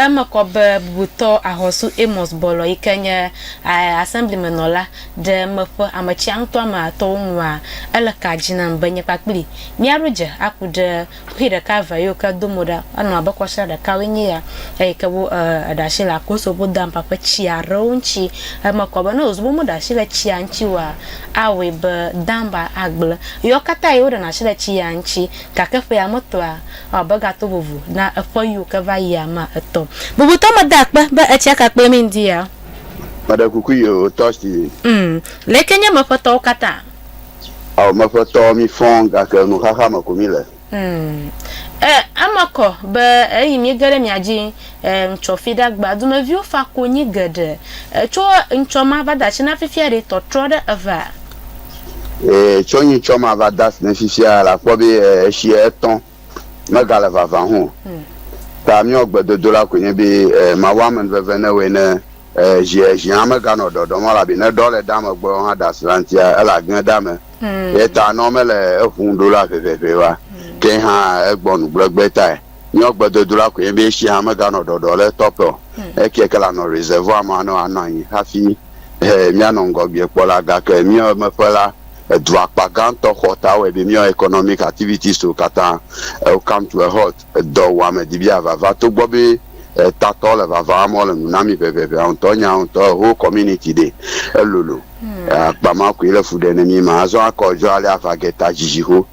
Eme kɔ be bubutɔ Ahɔsu Amos Bɔlɔ yi ke nye Assemblymenɔla ɖe meƒe ametsia ŋutɔa me atɔwo nua, Ele ka dzi nam be nye kpakpli míaɖo dze aku ɖe kuxi ɖeka evea yiwo ke do mo ɖa anɔ abe kɔsra ɖekawoe nye ya eyi ke wo ɖe asi le Akoso Vodampa ƒe tsi aɖewo ŋuti. Eme kɔ be ne wòzu be womeɖe asi le tsia ŋuti oa, awɔe be Damba agblẽ. Ɣeawo katã ɣi woɖena asi le tsi ya ŋuti, gake ƒea metɔa, Abe gato vovo na eƒe yiwo ke va yi ame etɔ̃. Bubutɔ me da akpe be etsia ka kple mi ŋdi ya. Meɖe kuku yi o tɔsi. Umm leke nye meƒe tɔwo katã. Ao meƒe tɔwo mi fɔ gake nu xaxa me ko mi le. Umm eh eme kɔ be eyi mi ge ɖe mia dzi. E ŋtsɔ fiɖagba dumeviwo fa konyi geɖe. E tsɔ ŋtsɔ ma va dasi na fifia ɖe tɔtrɔ ɖe eva? E tsɔ nyi tsɔ ma va dasi na fifia la kpɔ be e eshi etɔ mega le vava ho o. Ta miɔ gbe dodo la koe nye be e mawu amen veve ne woe ne e ʒi e ʒi hã mega nɔ ɖɔɖɔ mɔ la be ne ɖɔ le dame gbɔ hã dasi la ŋtia ele agne dame. Ye ta nɔ mele eŋu ɖo la ʋeʋeʋe wa ke hã egbɔ nu gblɔgbe tae. Nyɔ gbedodula koe nye be esi hã meganɔ ɖɔɖɔ le etɔ ƒe o. Ekeɛ ke lanɔ reservoir ma ne wòanɔ anyi hafi he míanɔ ŋgɔgbee kpɔ la. Gake míawo emeƒe la, edu akpa gãtɔ xɔ ta wɔe be míawo economic activities-wo katã ewo come to a halt. Edɔwuame di be yeavava togbɔ be etatɔ le vava wɔm wole nu na mí ʋeʋeʋea ŋutɔ. Nya ŋutɔ, a whole community ɖee. Elolo. Akpa ma koe le fu ɖem ne mí ema. Azɔ akɔ edzɔ alea ava geta dzidziho.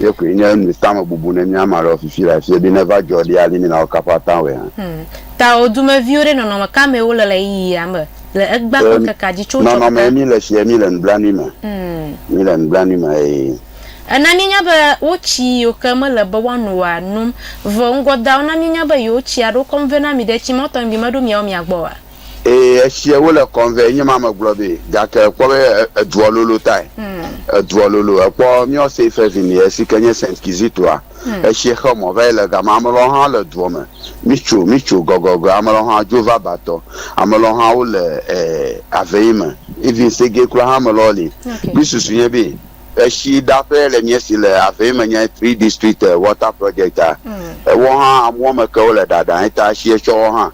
Ye koe nye nu tame bubu ne mía ame aɖewo fifi le afie be neva dzɔ ɖi ali mina wo kaƒa ta wɔe hã. Tawò dumeviwo ɖe nɔnɔme ka mee wole le ɣeyiɣia me le egbea ƒe ŋkekea dzi tso tsɔtsɔke ta? Nɔnɔmee mí le tsie mí le nublanui me. Mí le nublanui me eye. Ena míenya be wo tsi yiwo ke mele be woano oa nom. Vɔ ŋgɔdeawo na míenya be yewo tsia ɖo kɔm vɛ na mi ɖe tsi mɔtɔŋgbi meɖo miawo mia gbɔ oa? Ee, etsiɛ wole kɔm vɛ, nye ma megblɔ be, gake kpɔ be edua lolo tae. Edua lolo. Èkpɔ míɔ Seifevin ye si ke nye Saint Kizitoa, etsiɛ xe mɔ va yi le gama. Ame lɔwo hã le duɔ me. Mítso, mítso gɔgɔgɔe. Ame lɔwo hã dzo va batɔ. Ame lɔwo hã wole e aveyi me. Even segee kura hã ame lɔwo li. Mí susu nye be etsi ɖaƒe le mía si le aveyi me nye Three District Water Project a. Woawo hã amewo me ke wole ɖaɖa. Eta etsiɛ tsɔ woawo hã.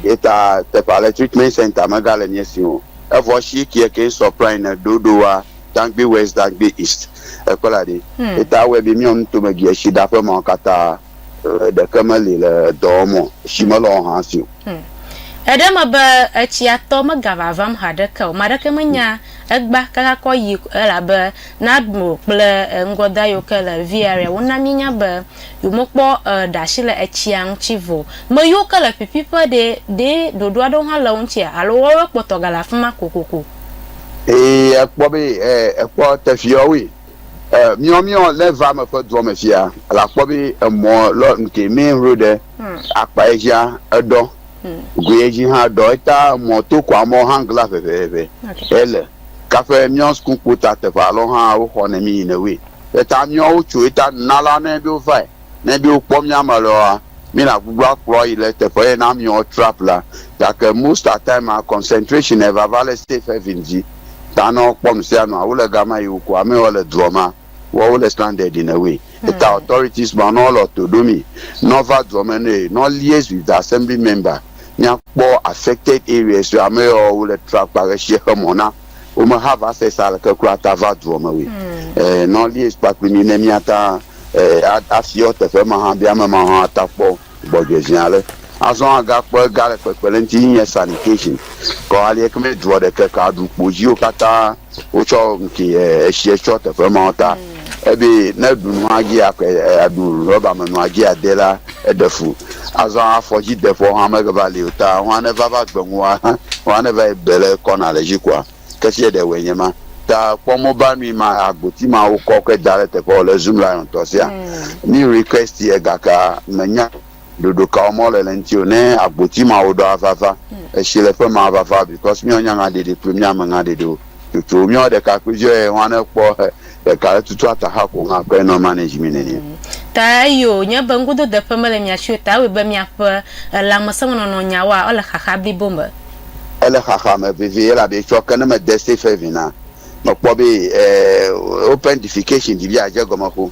Ye ta teƒe ale Treatment Center megale mía si o. Evɔ shi kiɛ keŋ sɔ Prine ne ɖo ɖo wa Dangbe West Dangbe East ekpla ɖi. Ye ta awɛ be míɔ nutomegiɛ shi ɖa ƒe mawo kata ɖeke meli le dɔ wɔm o. Shi melɔ wo han si o. Eɖe me be etsia tɔ megava vam haɖeke o. Ame aɖeke menya egba kaka kɔ yi elabe Nadmo kple ŋgɔda yiwo ke le Vieria wona míenya be Yo me kpɔ e ɖashi le etsia ŋtsi vɔ. Me yo ke le ƒiƒi ƒe ɖe, ɖe ɖoɖo aɖewo hã le wo ŋtsia alo woawe kpɔtɔ gale afima kokoko. Ee, ekpɔ be e, ekpɔ teƒeɔ woe. E, miɔ miɔ le va me ƒe duɔ me fia, la kpɔ be emɔ lɔ ŋke mɛ ŋro ɖe, akpa ejia eɖɔ, goe eji hã eɖɔ, eta emɔ to kɔa mɔ hã ŋgla ʋeʋeʋe. Ele. Kaƒe miɔ sukukpo ta teƒe alɔ hã wo xɔ ne mi yi ne woe. Eya ta míawo wotso ye ta nuna la ne be wovae ne be wokpɔ mía me le woa mí na gbugblɔ akplɔ yi le teƒe ye na míawo trap la gake most at time a concentration e vava le safe haven dzi ta ne wo kpɔ nu sia nua wole gama yi woko ame wo le dua ma woa wole stranded in a way ye ta authorities ma ne wole to ɖo mi ne wova dua me ne ne liaise with the assembly member mía kpɔ affected areas yo ame yo wole trap kpa ɣeshi xe mɔ na. wo me ha va se sa le ke kura ta va duɔ me we. Eh, nɔ lies kpa kpli mi ne mi ata eh, a, a fiɔ teƒe ma ha bi ame ma ha ata kpɔ gbɔdjɔe zi ale. Azɔ a ga kpɔ ega le kpekpe le ŋti yi nye sanitation. Kɔ alie keme duɔ ɖe ke ka ɖu kpo ziwo kata wo tsɔ ŋke eh, eshiɛ tsɔ teƒe ma wo ta. Ebe ne eɖu nu hafi aƒle aɖu rɔba me nu hafi ade la, eɖe fu. Azɔ afɔdzideƒewo hã meva li o, ta hã neva va gbe ŋu hã hã neva yi gbe le kɔna le dzi koa, ke fie ɖe wòe nye ma. Ta kpɔ mobile nui ma agboti ma wokɔ kɔe da ɖe teƒe wòle Zoom Lion tɔ sia. Mi request ye gake menya. ɖoɖo ka wɔm wole le ŋuti o. Ne agboti ma woɖo avava, etsi le ƒe ma avava because míawo nyanyaɖeɖi kple mía meŋaɖeɖiwo tsotso. Míawo ɖekakpuiviwo ye hɔn ne kpɔ he ɖeka le tutu ata ha ko ŋa kɔe nɔ manage mi nɛnɛ. Ta eyo nye be ŋgododeƒe mele mia si o ta ewɔe be miaƒe lãmesẽmenɔnɔ nyawoa ele xaxa blibo me. Ele xaxa me vevie elabe etsɔ ke ne mede safe haven a mekpɔ be eh open defecation ɖi be adze egɔme xoŋ.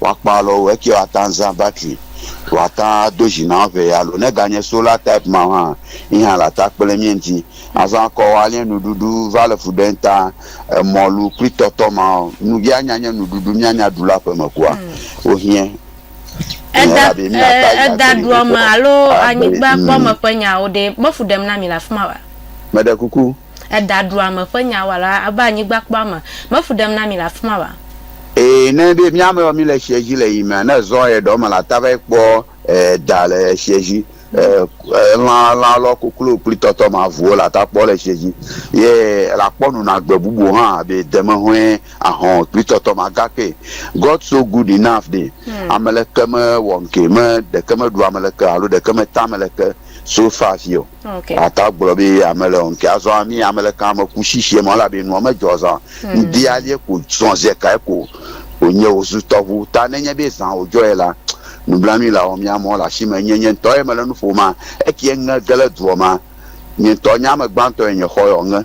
woakpɔ alɔ wo. Ekeɛ woate ŋu azã batri, woate ŋu ado dzi na wo ŋee alo ne ganye sola type ma hã yi hã le ata kpe ɖe mía ŋuti. Azɔ akɔ wo aliɛ nuɖuɖu va le fu ɖe ŋta. Emɔlu kple tɔtɔ ma wo, nu ye anya nye nuɖuɖu míanya ɖu le aƒe me kua, wohiɛ. Eda, e, eda ɖuame alo anyigbakpɔme ƒe nyawo ɖee, mefu ɖem na mi le afi ma oa? Meɖe kuku, edaɖuame ƒe nya wɔla abe anyigbakpɔa me me fu ɖem na mi le afi ma oa? Ee, ne enye be mía amewo míle tsia dzi le yimea, ne ezɔ ɣe ɖewo me la, ate va yi kpɔ da le tsia dzi. Lã lã alo koklo kple tɔtɔ ma vuwo la ta kpɔ le tsia dzi. Ye la kpɔ nuna gbe bubuwo hã abe demehɔe, ahɔ̃ kple tɔtɔ ma. Gake God so good enough ɖi. Ame leke mewɔ ŋkee me ɖeke meɖu ame leke alo ɖeke meta ame leke so far afi o. Okay. Ata gblɔ be ame le ŋkɛ azɔ ami ame le kan ame ku shishie mɔ la be nua me jɔ zan. Hmm. Ŋdi alie ko zɔn ze kae ko o nye o zu tɔbu ta ne nye be zan o jɔ ye la nublanui la o mia mɔ la shi me nye nye ŋtɔ ye me le nu fo ma eki ye ŋe gele duɔ ma nye ŋtɔ nye ame gbantɔ ye nye xɔ yɔ ŋe.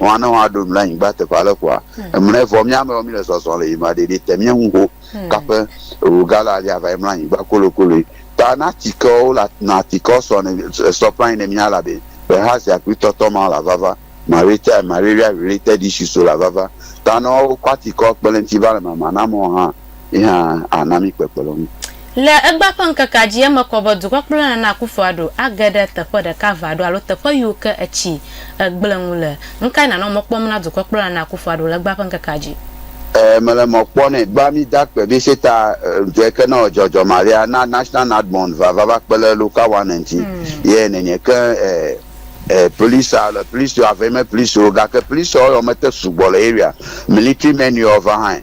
Ŋua ne woaɖo nu le anyigba teƒe ale koa, emlɔe. Vɔ mía amewo míle zɔzɔm le yiyim aɖe ɖi te míe ŋu ho kaƒe wu gala alia va yi mlɔ anyigba kolokoloe. Ta na atikewo wole na atikewo sɔ ne sɔ ƒãe ne mía elabe ƒe hã zi akpli tɔtɔ mawo la vava. Marita, Mareria related issues wo la vava. Ta ne wokɔ atikewo kpe le ŋuti va le mama na amewo hã. ye hã ana mí kpekpeɖeŋu. Le egbea ƒe ŋkekea dzi, eme kɔ be dukɔkplɔla na Akufo Addo age ɖe teƒe ɖeka va ɖo alo teƒe yiwo ke etsi gblẽ ŋu le. Nukae nànɔ mɔ kpɔm na dukɔkplɔla na Akufo Addo le egbea ƒe ŋkekea dzi? Ɛɛ, mele mɔ kpɔ nɛ. Egbea mí da akpe be seta ŋdɔɛ ke nɔ dzɔdzɔ maɖea na National Nadmon va va va kpe le local one ŋti. Yɛ nɛnɛ ke ɛɛ police le police yo avɛ me police yo gake police ɔ yɔ me te sugbɔ le area. Military men yɔ va hãɛ.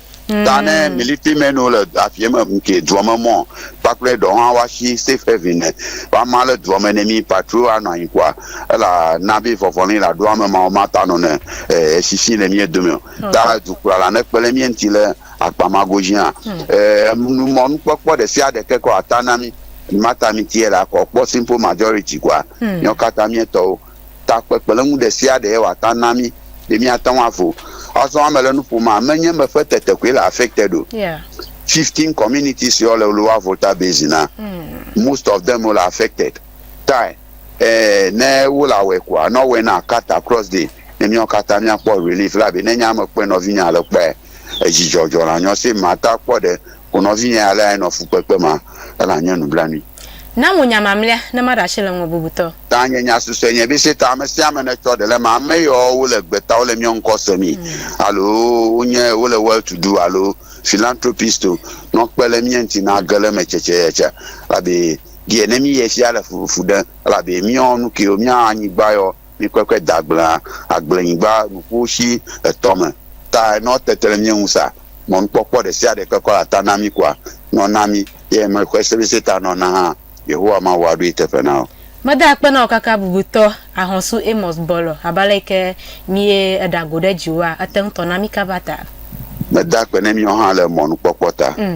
Ta ne mm. military men wo le afiɛ me nke duɔ me mɔ kpakple ɖɔ hã wa shi safe haven ne wa ma le duɔ me ne mi patro a nɔ anyi kua ela na be vɔvɔ ne la ɖo ame ma ma ta nɔ ne e shishi le mi dome hmm. ta du kura la ne kpele mi enti le akpa ma go zi hã hmm. e nu mɔ nu kpɔkpɔ ɖe sia ɖe ke kɔ ata na mi ma ta mi tiɛ la kɔ kpɔ simple majority kua hmm. nyɔ kata mi tɔwo ta kpekpeɖeŋu ɖesiaɖe wòate ŋu ana mí be míate ŋu avo. Azɔ mele nu ƒom a, menye eme ƒe tetekpɔe le affected o. Fifteen communities ye wole lower Volta Basin na. Most of them wole affected. Tae eh, ne wole awɔe koa, ne wowɔe na cut across day, ne míawo katã míakpɔ relief elabe ne nye ame kpɔe nɔvinye ale kpɔe a, edzidzɔ dzɔ le anyo. Sim, mate akpɔ ɖe ko nɔvinye alea enɔ fukpekpe me a, ela nye nublanui. Na ŋu nya mamlea ne maɖe asi le ŋuwò bubutɔ. Ta nye nya susɔe nye bise ta ame sia ame netsɔ ɖe le ma ame yɔ wo le gbeta wo le miɔ ŋkɔ se mi alo wo nye wo le well to do alo philanthropist o nɔ kpe le mie ŋti na ge le me tsetse ye tse labe die ne mi ye fia le fufu ɖe elabe miɔ nu kiwo mia anyigba yɔ mi kpe kpe da gblea agble nyigba nuƒo shi etɔ me ta nɔ tete le mie ŋu sa mɔ nukpɔkpɔ ɖe sia ɖe kpe kɔ la ta na mi kua nɔ na mi. Ye me kue sebese ta nɔ na hã, Yehowa Mawu aɖoe teƒe na wò. Meda akpe na wò kaka bubutɔ, Ahɔsu Amos Bɔlɔ, abe ale yi ke míe eɖa go ɖe dziwòa, ete ŋutɔ na mí kaba ta. Meda akpe ne míawo hã le mɔnukpɔkpɔ ta.